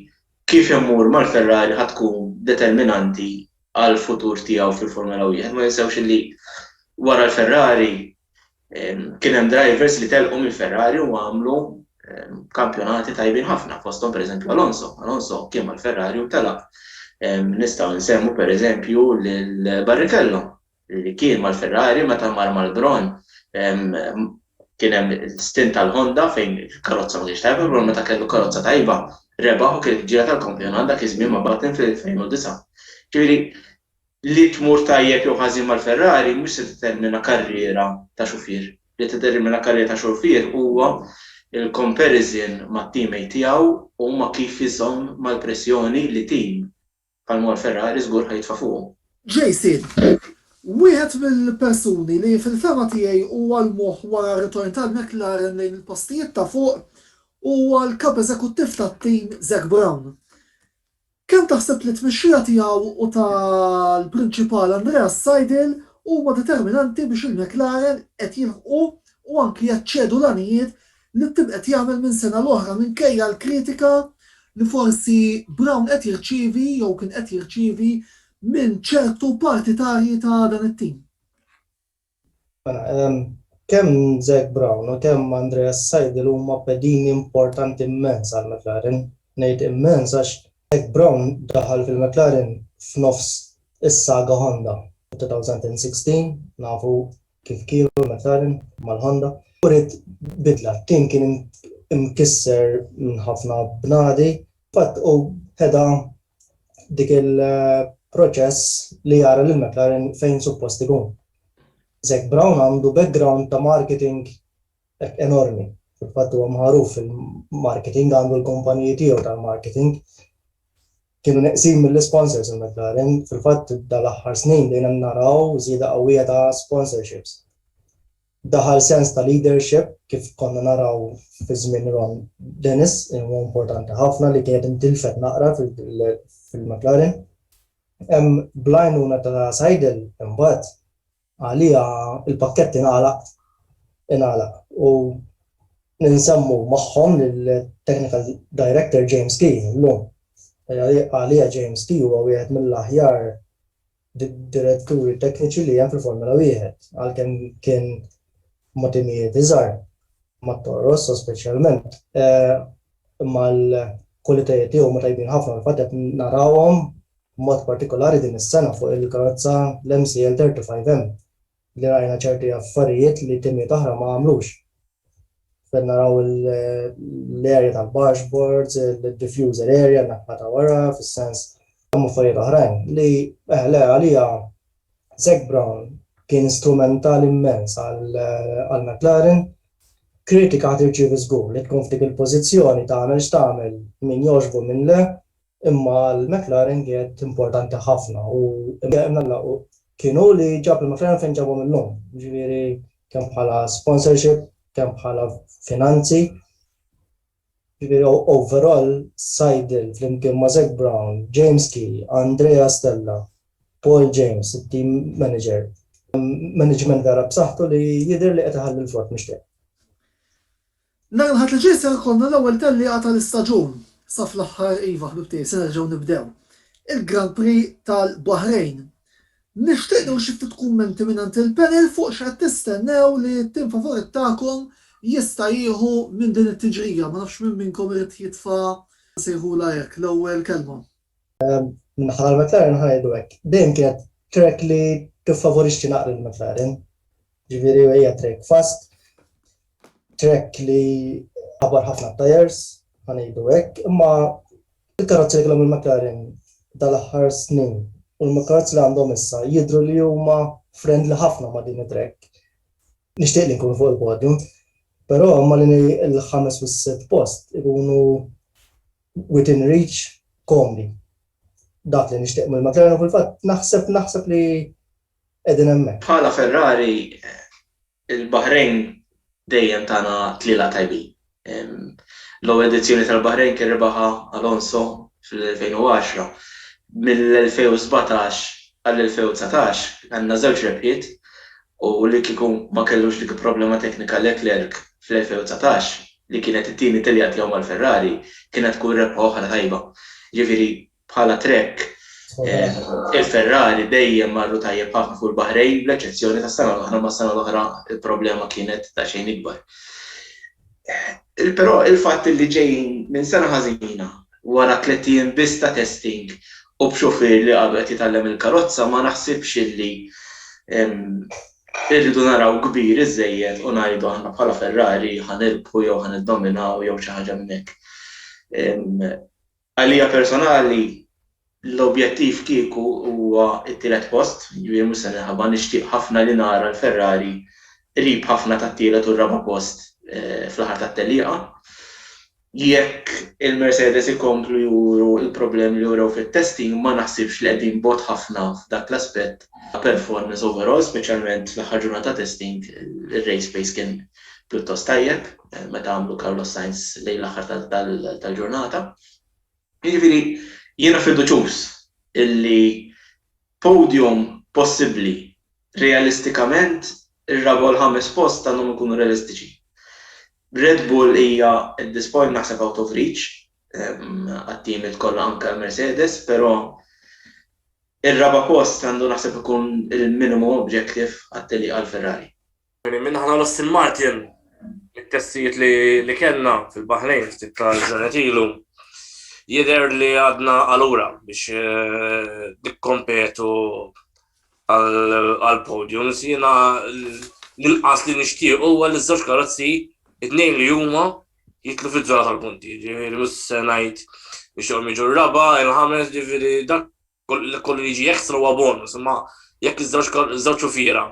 kif immur mal-Ferrari ħa tkun determinanti għall-futur tiegħu fil-Formula Wieħed. Ma ninsewx illi wara l-Ferrari kien hemm drivers li telqu mill-Ferrari u għamlu kampjonati tajbin ħafna, fosthom pereżempju Alonso. Alonso kien mal-Ferrari u telaq. Nistgħu nsemmu pereżempju lil Barrichello li kien mal-Ferrari meta mar mal-Brawn kien hemm stint tal-Honda fejn il-karozza ma kienx tajba, il-Brawn meta kellu karozza tajba rebaħ u kienet il-ġira tal-kampjonat dak iż-żmien ma' Button fl-2009. Ġifieri li tmur tajjeb jew ħażin mal-Ferrari mhux se tiddetermina karriera ta' xufier. Li tiddetermina karriera ta' xufier huwa l-comparison mat-teammate tiegħu u ma' kif iżomm mal-pressjoni li tim, Bħal ma hu l-Ferrari żgur ħa jitfa' fuqu. Jason, Wieħed mill-persuni li fil-fehma tiegħi huwa l-moħħ wara r-ritorn tal-McLaren lejn il-postijiet ta' fuq huwa l-Kap Eżekuttiv tat-tim Zak Brown. Kemm taħseb li t-tmexxija tiegħu u tal-Prinċipal Andreas Seidl huma determinanti biex il-McLaren qed jilħqu u anki jaċċedu l-għanijiet li t-tim qed jagħmel minn sena l-oħra minkejja l-kritika li forsi Brown qed jirċievi jew kien qed jirċievi minn ċertu partitarji ta' dan it-tim. Kemm Zac Brown u kemm Andreas Seidl huma pedini importanti immens għal McLaren. Ngħid immens għax Zac Brown daħal fil-McLaren f'nofs is-saga Honda, 2016, nafu kif kielu McLaren mal-Honda, uriet bidla, t-tim kien imkisser minn ħafna bnadi, fil-fatt hu heda dik il-proċess li jara lil McLaren fejn suppost ikun. Zac Brown għandu background ta' marketing enormi, fil-fatt huwa magħruf fil-marketing, għandu l-kumpaniji tiegħu tal-marketing, Kienu neqsin mill-isponsors il-McLaren. Fil-fatt dal-aħħar snin bdejna naraw żieda qawwija ta' sponsorships. Daħal sens ta' leadership kif konna naraw fi żmien Ron Dennis li huwa importanti ħafna li kienet intilfet naqra fil-McLaren. Bl-għajnuna ta' Seidl imbagħad Għalija l-pakkett ingħalaq ingħalaq u ninżammu magħhom lill-Technical Director James Key illum. Għalija James Key huwa wieħed mill-aħjar diretturi tekniċi li hemm fil-Formula Wieħed, għalkemm kien ma' timijiet iżgħar, ma' Toro Rosso speċjalment, imma l-kwalitajiet tiegħu huma tajbin ħafna u fil-fatt qed narawhom B'mod partikolari din is-sena fuq il-karozza l-MCL 35M li rajna ċerti affarijiet li timiet oħra ma għamlux. Fejn naraw l-area tal-bargeboards, il-diffuser area, n-naħa ta' wara, fis-sens hemm affarijiet oħrajn li eh, le għalija Zac Brown kien strumental immens għal McLaren kritika ħad irċievi żgur li tkun f'dik il-pożizzjoni tagħmel x'tagħmel min jogħġbu minn le Imma għal McLaren kienet importanti ħafna u kien hu li ġab lill-McLaren fejn ġabhom illum, jiġifieri kemm bħala sponsorship, kemm bħala finanzi. Jiġifieri overall Seidl flimkien ma' Zak Brown, James Key, Andrea Stella, Paul James, it-team manager, management vera b'saħħtu li jidher li qed iħalli l-frott mixtieq. Nhar il-Ħadd li ġej ser ikollna l-ewwel tellieqa tal-istaġun. Sa fl-aħħar, iva ħbib tiegħi, se nerġgħu nibdew. Il-Grand Prix tal-Baħrejn. Nixtieq nieħu xi ftit kummenti mingħand il-panel fuq x'qed tistennew li t-tim favorit tagħkom jista' jieħu minn din it-tiġrija. Ma nafx min minnkom irid jitfa' nsejħulha hekk, l-ewwel kelma. Min-naħa tal-McLaren ħajdu hekk. Dejjem kienet track li tiffavorixxi naqra lill-McLaren. Ġifieri hija track fast, track li għabar ħafna tires, ħanejdu hekk, imma il-karozzi li kellhom il-McLaren dal-aħħar snin u l-karozzi li għandhom issa jidhru li huma friendly ħafna ma' din it-track. Nixtieq li nkunu fuq il-podium, però ma' li l-ħames u s-sitt post ikunu Within reach, komdi. Dak li nixtieq mill-McLaren u fil-fatt naħseb naħseb li qegħdin hemmhekk. Bħala Ferrari, il-Baħrejn dejjem tana tlielaq tajbin. L-ewwel edizzjoni tal-Baħrejn kien rebaħha Alonso fl-2010. Mill-2017 għall-2019 għandna żewġ rebħiet u li kieku ma kellux dik il-problema teknika Leclerc fl-2019, li kienet it-tieni telja tiegħu mal-Ferrari, kienet tkun rebħa oħra tajba. Jiġifieri bħala trekk, il-Ferrari dejjem marru tajjeb ħafna fuq il-Baħrejn, bl-eċċezzjoni tas-sena l-oħra, imma s-sena l-oħra l-problema kienet daqsxejn ikbar. Però il-fatt li ġejjin minn sena ħażina, wara tliet ijiem biss ta' testing u b'xufier li għadu qed jitgħallem il-karozza ma naħsibx li Irridu naraw kbir iżżejjed u ngħidu aħna bħala Ferrari ħa nirbħu jew ħa niddominaw jew xi ħaġa minn hekk. Għalija personali l-objettiv kieku huwa t-tielet post, jiġifieri mhux se ninħaba, nixtieq ħafna li nara l-Ferrari qrib ħafna tat-tielet u r-raba' post fl-aħħar tat-tellieqa. Jekk il-Mercedes ikomplu juru l-problemi li wrew fit-testing ma naħsibx li qegħdin bogħod ħafna f'dak l-aspett ta' performance overall, speċjalment fl-aħħar ġurnata ta' testing ir-race pace kien pjuttost tajjeb meta għamlu Carlos Sainz lejn l-aħħar tal-ġurnata. Jiġifieri jiena fiduċjuż illi Podium possibbli, Realistikament, ir-raba' u l-ħames post għandhom ikunu realistiċi. Red Bull hija at this point naħseb out of reach għat-teamiet kollha anke għal Mercedes, però ir-raba' post għandu naħseb ikun il-minimum objective għat-tellieqa għal Ferrari. Minna ħana l-Aston Martin, il-testijiet li kellna fil-Bahrejn ftit tal-ġranet ilu, jider li għadna għalura biex eh, dikkompetu għal-podium. Sina l-inqas li nishtiq u għal iż-żewġ karozzi, id-nejn li huma jitlu fil-zona tal-punti, ġifiri mus senajt biex jom iġu raba, il-ħames, ġifiri dak kollu li jiġi ekstra huwa bonus, imma jekk iż-żewġ xufiera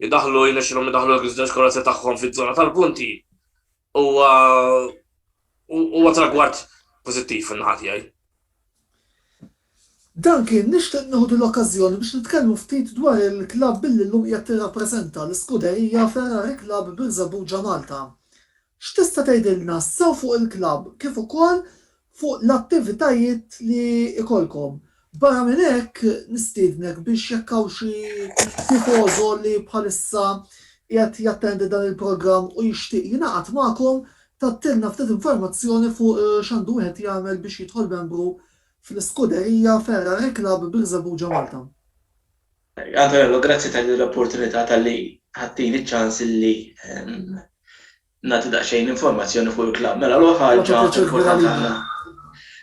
jidaħlu jnexxilhom jidaħlu iż-żewġ karozzi tagħhom fiż-żona tal-punti, huwa huwa tragward pożittiv fin-naħa tiegħi. Duncan, nixtieq nieħu l-okkażjoni biex nitkellmu ftit dwar il-klabb billi llum qiegħed tirrappreżenta l-iskuderija Ferrari Club Birżebbuġa Malta. X'tista' tgħidilna sew fuq il-klabb kif ukoll fuq l-attivitajiet li jkollkom? Barra minn hekk nistiednek biex jekk hawn xi tifożo li bħalissa qiegħed jattendi dan il-programm u jixtieq jingħaqad magħkom tgħattilna ftit informazzjoni fuq x'għandu wieħed jagħmel biex jidħol membru fl-Iskuderija Ferrari Club Birżebbuġa Malta. Antonello, grazzi ta' din l-opportunità talli ħadtili ċ-ċans illi nagħti daqsxejn informazzjoni fuq il-klabb. Mela l-ewwel ħaġa importanti ħafna.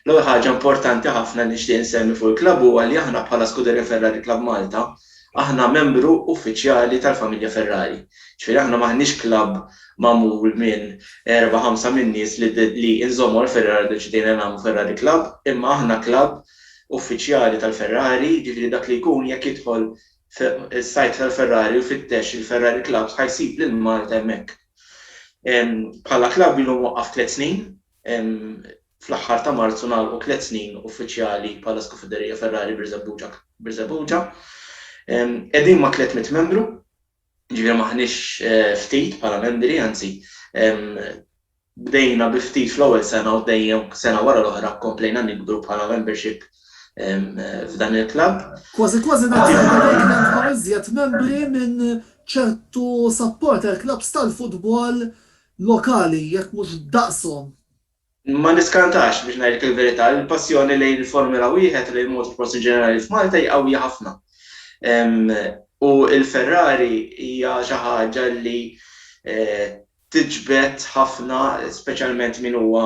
L-ewwel ħaġa importanti ħafna li nixtieq insemmi fuq il-klabb huwa li aħna bħala Scuderia Ferrari Club Malta aħna membru uffiċjali tal-familja Ferrari. Ġifieri aħna m'aħniex klabb magħmul minn erba' ħamsa min-nies li inżommu għall-Ferrari ddeċidejna nagħmlu Ferrari Club, imma aħna klabb uffiċjali tal-Ferrari, jiġifieri dak li jkun jekk jidħol fis-sajt tal-Ferrari u jfittex il-Ferrari Clubs ħa jsib lil Malta hemmhekk. Bħala klabb ilu mwaqqaf tliet snin, fl-aħħar ta' Marzu ngħalqu tliet snin uffiċjali bħala Skufiderija Ferrari Birżebbuġa Birżebbuġa. Qegħdin ma' tliet mitt membru. Jiġifieri m'aħniex ftit bħala membri, anzi, bdejna bi ftit fl-ewwel sena u dejjem sena wara l-oħra komplejna nikbru bħala membership f'dan il-klabb. Kważi kważi dak iż-żmien bdejt nilħaq iżjed membri minn ċertu supporter clubs tal-futbol lokali, jekk mhux daqshom. Ma niskantax, biex ngħidlek il-verità, li l-passjoni lejn il-Formula Wieħed u lejn motorsports in ġenerali f'Malta hi qawwija ħafna. U l-Ferrari hija xi ħaġa li tiġbed ħafna, speċjalment min huwa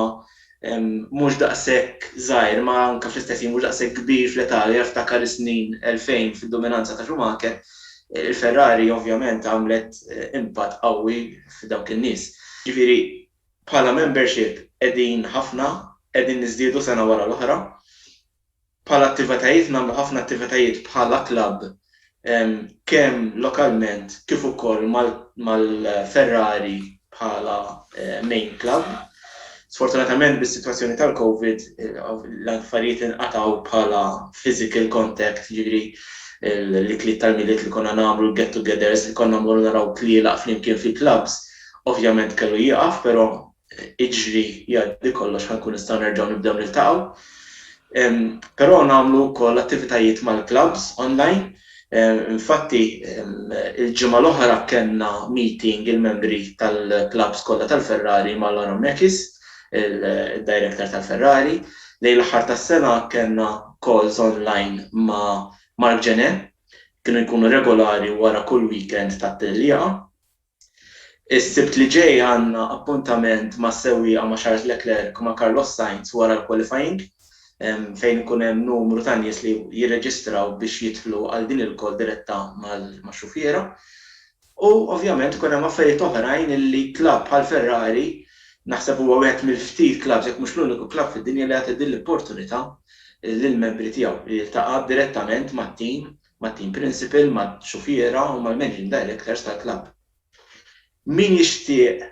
mhux daqshekk żgħir, imma anke fl-istess ħin mhux daqshekk kbir fl-età, li jiftakar is-snin 2000 fid-dominanza ta' Schumacher. Il-Ferrari ovvjament għamlet impatt qawwi f'dawk in-nies. Jiġifieri, Bħala membership qegħdin ħafna, qegħdin niżdiedu sena wara l-oħra. Bħala attivetajiet nagħmlu ħafna attivetajiet bħala klabb kemm lokalment kif ukoll mal-Ferrari bħala main klabb. Sfortunatament bis-sitwazzjoni tal-Covid l-affarijiet inqatgħu bħala physical contact jiġifieri l-ikliet tal-Milied li konna nagħmlu, l-get togethers li konna mmorru naraw tlielaq flimkien fil-klabbs Ovvjament kellu jieqaf però iġri jgħaddi kollox ħankun nistgħu nerġgħu nibdew niltaqgħu. Però nagħmlu wkoll attivitajiet mal-clubs online. Infatti il-ġimgħa l-oħra kellna meeting il-membri tal-clubs kollha tal-Ferrari ma' Laurent Mekies, il-director tal-Ferrari. Lejn l-aħħar tas-sena kellna calls online ma' Marc Gené. Kienu jkunu regolari wara kull weekend tat-tellieqa. Is-Sibt li ġej għandna appuntament mas-sewwieqa ma' Charles Leclerc u ma' Carlos Sainz wara l-qualifying, fejn ikun hemm numru ta' nies li jirreġistraw biex jidħlu għal din il-call diretta max-xufiera. U ovvjament ikun hemm affarijiet oħrajn li club bħal Ferrari, naħseb huwa wieħed mill-ftit clubs jekk mhux l-uniku club fid-dinja li jagħti din l-opportunità lill-membri tiegħu li jiltaqa' direttament mat-team mat-team principal, max-xufiera u mal-managing directors tal-klabb. Min jixtieq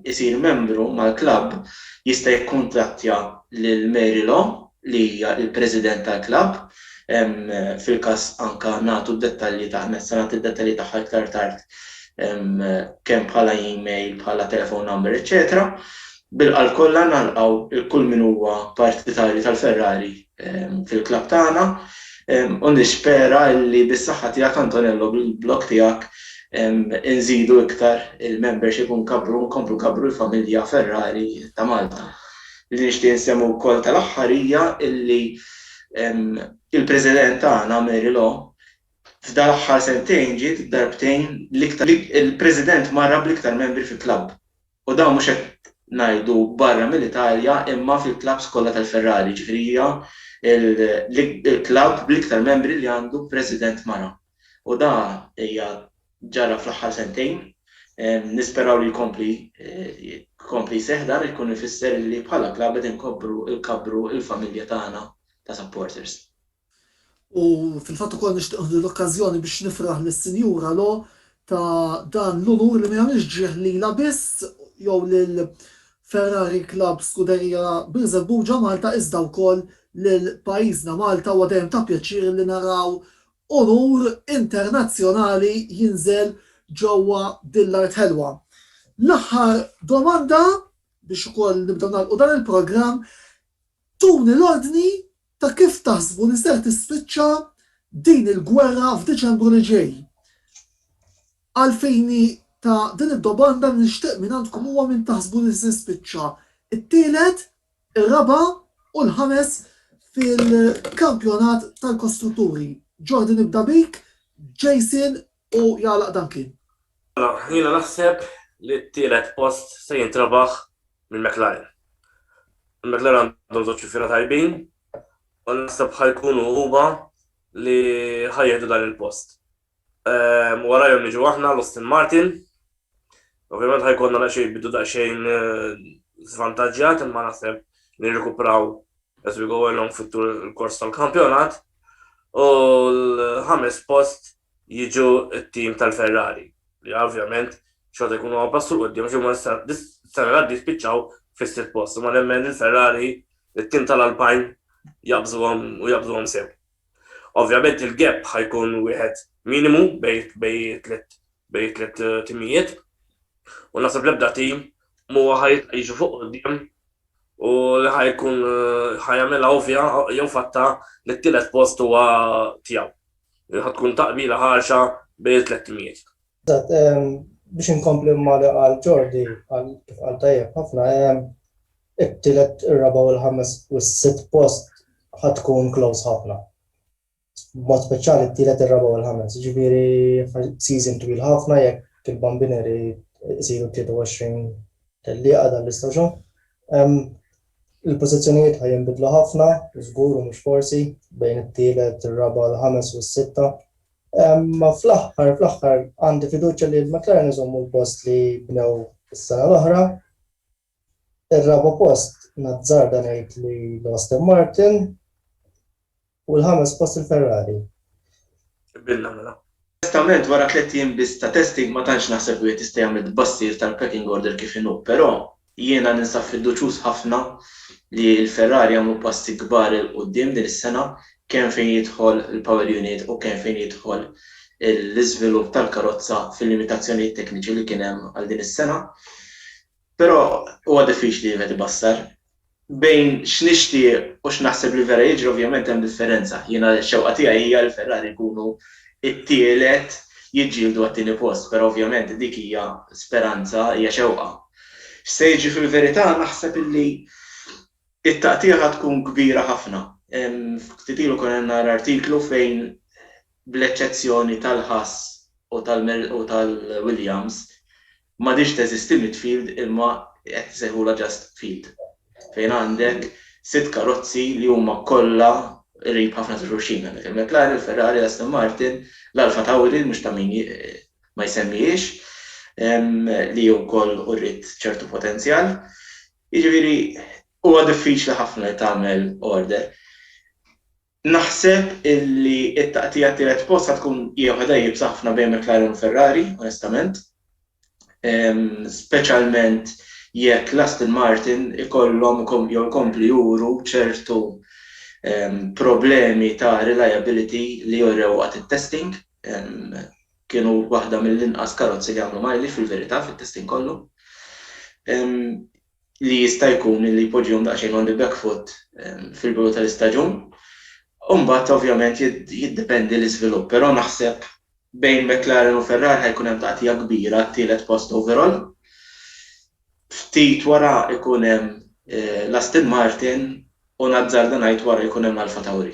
isir membru mal-klabb jista' jikkuntattja lil Mary Law li hija l-President tal-klabb, fil-każ anke nagħtu d-dettalji tagħha, anzi se nagħti d-dettalji tagħha iktar tard kemm bħala email, bħala telephone number, eċċetera. Bil-qalb kollha nalqgħu 'l kull min huwa partitarju tal-Ferrari fil-klabb tagħna u nispera li bis-saħħa tiegħek Antonello bil-blog tiegħek inżidu iktar il-membership u nkabbru nkomplu nkabbru l-familja Ferrari ta' Malta. Li nixtieq insemmi wkoll tal-aħħar hija li l-President tagħna Mary Law f'dan l-aħħar sentejn ġiet darbtejn l-iktar il-President marra bl-iktar membri fil-klabb. U dan mhux qed ngħidu barra mill-Italja imma fil-klabbs kollha tal-Ferrari, jiġifieri hija l-klabb bl-iktar membri li għandu president mara. U da hija ġara fl-aħħar sentejn, nisperaw li jkompli jkompli jseħħ dan ikun ifisser li bħala klabb qed inkobbru nkabbru l-familja tagħna ta' supporters. U fil-fatt ukoll nixtieq nieħdu l-okkażjoni biex nifraħ lis-Sinjura Lo ta' dan l-unur li m'iegħmilx ġrieħ lilha biss jew lil Ferrari Club Scuderia Birżebbuġa Malta iżda wkoll lil pajjiżna Malta. Huwa dejjem ta' pjaċir li naraw unur internazzjonali jinżel ġewwa din l-art ħelwa. L-aħħar domanda biex ukoll nibdew nagħlqu dan il-programm, tuni l-ordni Ta' kif taħsbu li ser tispiċċa din il-gwerra f'Diċembru li ġej? Għal fini ta' din id-dobanda li nixtieq minn għandkom huwa minn taħsbu li se jispiċċa t-tielet, ir-raba' u l-ħames fil-kampjonat tal-kostrutturi. Jordi nibda bik, Jason u jagħlaq dan kien. Mela, jiena naħseb li t-tielet post se jintrebaħ minn McLaren. McLaren għandhom żewġ xufiera tajbin u naħseb ħa jkunu huma li ħa jieħdu dan il-post. Ehm, warajhom niġu aħna l-Austin Martin. Ovvjament ħa jkollna daqsxejn bidu daqsxejn eh, żvantaġġjat imma naħseb nirrikupraw as we go along fit-tur il-kors tal-kampjonat. U l-ħames post jiġu t-tim tal-Ferrari li ovvjament xorta jkunu għaw passu l-qoddim xi huma s-sena l-għaddi spiċċaw fis-sitt post imma nemmen li l-Ferrari it-tim tal-Alpine jaqbżuhom u jaqbżuhom sew. Ovvjament il-gap ħajkun wieħed minimu bej tliet bej tliet eh, timijiet u nasab l-ebda tim mu ħajt jiġu fuq qudiem u li ħajkun eh, ħajamela ovvja jew fatta li t-tielet post huwa tiegħu. Din ħad tkun taqbila ħarxa bejn it-tlett timijiet. Eżatt, biex inkompli ma' li qal Jordi, kif qal tajjeb ħafna, it-tielet, ir-raba' u l-ħames u s-sitt post ħad tkun close ħafna. B'mod speċjali t-tielet, ir-raba' u l-ħames. Jiġifieri season twil ħafna jekk il-Bambineri jsiru 23 tellieqa dan l-istaġun. Il-pożizzjonijiet ħa jinbidlu ħafna, żgur u mhux forsi, bejn it-tielet, ir-raba', il-ħames u s-sitta. Imma fl-aħħar, fl-aħħar għandi fiduċja li l-McLaren iżommu l-post li bnew is-sena l-oħra. Ir-raba' post nazzarda ngħid li l-Aston Martin. U l-ħames post il-Ferrari. Qbilna mela. Onestament wara tliet ijiem biss ta' testing ma tantx naħseb li wieħed jista' jagħmel tbassir tal-pecking order kif inhu, però jiena ninsab fiduċjuż ħafna li l-Ferrari jagħmlu passi kbar 'il quddiem din is-sena kemm fejn jidħol il-power unit u kemm fejn jidħol l-iżvilupp tal-karozza fil-limitazzjonijiet tekniċi li kien hemm għal din is-sena. Però huwa diffiċli li wieħed ibassar. Bejn x'nixtieq u x'naħseb li vera jiġri ovvjament hemm differenza. Jiena x-xewqa tiegħi hija li Ferrari jkunu t-tielet, jiġġieldu għat-tieni post, però ovvjament dik hija speranza, hija xewqa. X'se jiġri fil-verità naħseb li t-taqtigħa tkun kbira ħafna. Ftit ilu konna qed nara artiklu fejn bl-eċċezzjoni tal-Haas u tal-Williams, m'għadhiex teżisti midfield imma qed isejħulha just field, fejn għandek sitt karozzi li huma kollha qrib ħafna ta' xulxin, għandek il-McLaren, il-Ferrari, l-Aston Martin, l-Alpha Tauri li mhux ta' min ma jsemmihiex li wkoll uriet ċertu potenzjal. Jiġifieri huwa diffiċli ħafna li tagħmel order. Naħseb illi t-taqtigħa t-tielet post ħa tkun hija waħedha iebsa ħafna bejn McLaren u Ferrari, onestament. Speċjalment jekk l-Aston Martin ikollhom jew ikomplu juru ċertu problemi ta' reliability li jorew waqt it-testing. Kienu waħda mill-inqas karozzi li għamlu mileage fil-verità fit-testing kollu. li jista' jkun li jpoġġihom daqsxejn on the back foot fil-bidu tal-istaġun. U mbagħad ovvjament jiddependi l-iżvilupp, però naħseb bejn McLaren u Ferrari ħa jkun hemm taqtigħa kbira għat-tielet post overall. Ftit wara jkun hemm l-Aston Martin u nazzarda ngħid wara jkun hemm l-Alfa Tauri.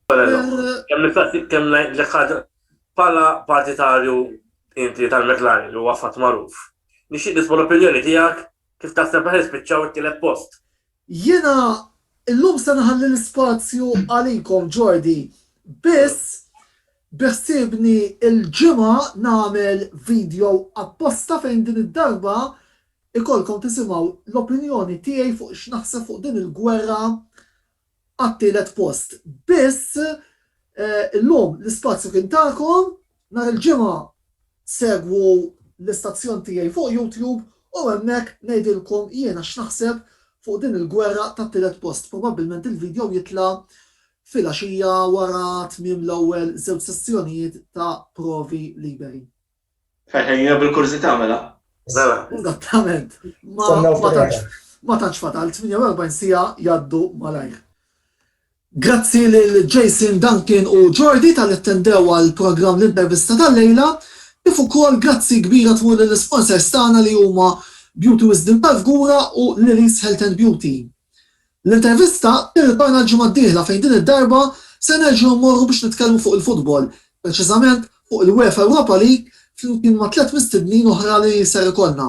Kemm ngħidlek ħaġa, bħala partitarju inti tal-McLaren li huwa fatt magħruf, Nixtieq nisma' l-opinjoni tiegħek kif taħseb li ħa jispiċċaw it-tielet post. Jiena llum se nħalli l-ispazju għalikom Jordi, biss biħsiebni l-Ġimgħa nagħmel video apposta fejn din id-darba ikollkom tisimgħu l-opinjoni tiegħi fuq x'naħseb fuq din il-gwerra għat-tielet post biss. Illum l-ispazju kien tagħkom. Nhar il-Ġimgħa segwu l-istazzjon tiegħi fuq YouTube u hemmhekk ngħidilkom jiena x'naħseb fuq din il-gwerra tat-tielet post. Probabbilment il-video jitla' filgħaxija wara tmiem l-ewwel żewġ sessjonijiet ta' provi liberi. Ħejja bil-kurżità mela. Mela. Eżattament. Ma tantx fatal 48 sija jaddu malajr. Grazzi lil Jason Duncan u Jordi tal-attendew għal programm l-intervista tal-lejla, kif ukoll grazzi kbira tmur lill-isponsors tagħna li huma Beauty Wisdom tal-Fgura u Lily's Health and Beauty. L-intervista tirritorna l-ġimgħa d-dieħla fejn din id-darba se nerġgħu mmorru biex nitkellmu fuq il-futbol, preċiżament fuq il-UEFA Europa League flimkien ma' tliet mistednin oħra li ser ikollna.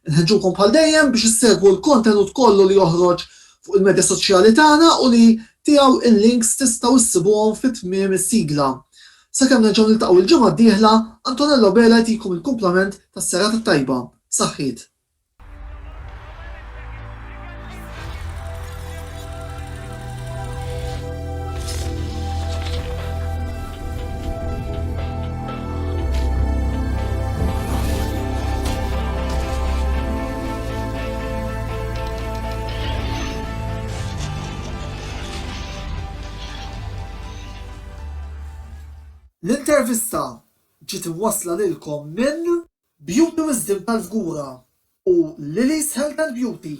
Inħeġġukom bħal dejjem biex issegwu l-kontenut kollu li joħroġ fuq il-medja soċjali tagħna u li tiegħu l-links tistgħu issibuhom fi tmiem is-sigla. Sakemm nerġgħu niltaqgħu l-ġimgħa d-dieħla, Antonello Bela jtikom il-kumplament tas-serata t-tajba. Saħħiet. L-intervista ġiet imwassla lilkom minn. Beauty Wisdom tal-Fgura u Lili's Health and Beauty